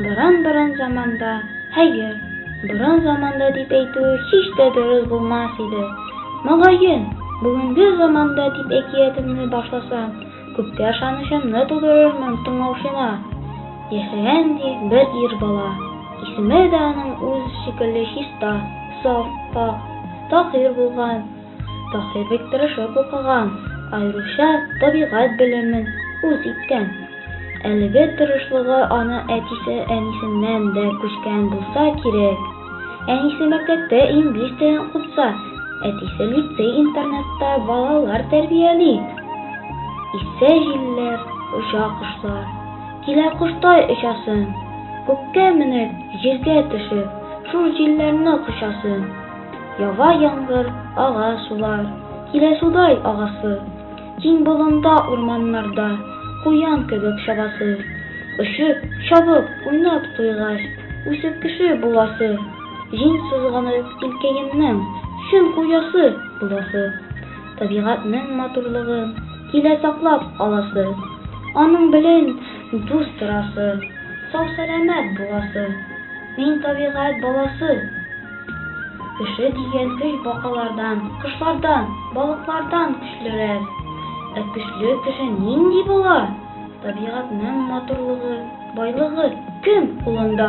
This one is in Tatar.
Борын-борын заманда, хәер, борын заманда дип әйтүе һич тә дөрес булмас иде. Мөгаен, бүгенге заманда дип әкиятемне башласам, күпкә ышанычымны тудырырмын тыңлаучыма. Яшәгән, ди, бер ир бала. Исеме дә аның үз шикелле чиста, саф, пакь, таһир булган. Таһир бик тырышып укыган, аеруча табигать белемен үз иткән. Әлеге тырышлыгы аны әтисе-әнисеннән дә күчкән булса кирәк. Әнисе мәктәптә инглиз телен укытса, әтисе лицей-интернатта балалар тәрбияли. Исә җилләр, оча кошлар. Килә коштай очасым. Күккә менеп, җиргә төшеп, шул җилләрне кочасым. Ява яңгыр, ага сулар, Килә судай агасы. Киң болында, урманнарда, Куян кебек чабасы. Очып, чабып, уйнап туйгач, Үсеп кеше буласы. Җиң сызганып, илкәемнең Чын хуҗасы буласы. Табигатьнең матурлыгын Килә саклап аласы. Аның белән дус торасы, Сау-сәламәт буласы. Мин табигать баласы. Кеше дигән көч бакалардан, кошлардан, балыклардан көчлерәк. Ә көчле кеше нинди була? Табигатьнең матурлыгы, байлыгы кем кулында?